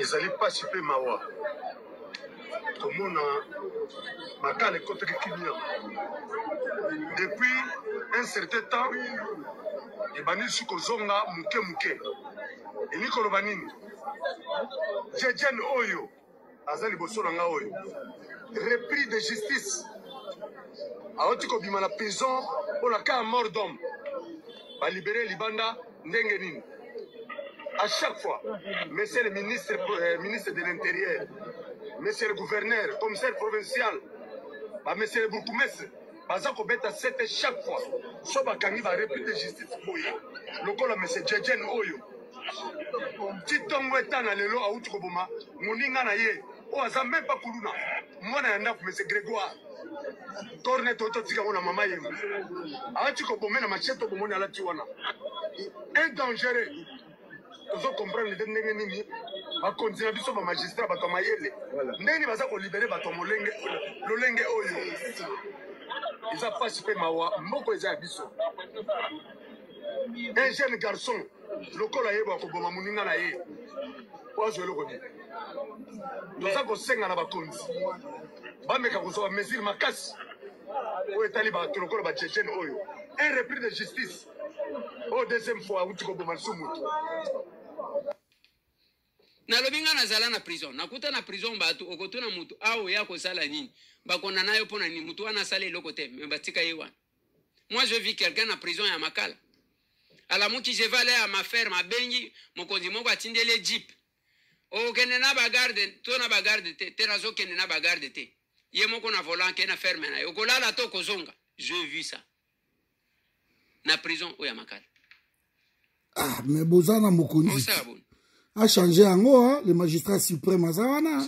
ezali mpasi mpe mawa komona makala ekotaki kimia depuis un certain temps ebandisi kozonga moke moke elingi koloba nini jejene oyo aza liboso na nga oyo repris de justice awuti kobima na prison mpo na cas ya mort d'homme balibere libanda ndenge nini à chaque fois monsieur le ministre euh, ministre de l'intérieur monsieur le gouverneur commissaire provincial ba monsieur le bourgmestre baza kobeta sete chaque fois so bakangi barepli de justice boye lokola monsieur jejen oyo titongo etana lelo awuti koboma moninga na ye oyo aza meme pa kuluna mwana ya ndako monsieur grégoire torne to totika yango na mama ye alati kobome na machete obomoni alati wana un dangereux tozo comprendre nde ndenge nini bakonzi na biso bamagistrat bato ya mayele ndenge nini baza kolibere bato ya molenge lolenge oyo eza mpasi mpe mawa mboko eza ya biso un jeune garçon lokola ye bakoboma moninga na ye po azwa eloko nini toza kosenga na bakonzi bameka kozwa bamesure makasi oyo etali bato lokola bajejene oyo un repris de justice oyo deuxième fois auti koboma lisu motu nalobi ngai nazala na prison nakuta na prison bato okotuna motu awa oya kosala nini bakona na yo mpo na nini motu wana asala eloko te me batika ye wana Moi, je vis quelqu'un na prison ya Makala. Alamuki, je vais aller à ma ferme, abengi, mokonzi moko atindele jeep. Okende na bagarde, to na bagarde te, te nazo kende na bagarde te. Ye moko na volant ke na ferme na ye. Okolala to kozonga. Je vis ça. Na prison oyo ya Makala. Ah, mais boza na mokonzi. Osa bon. A changer yango, hein, le magistrat suprême aza wana.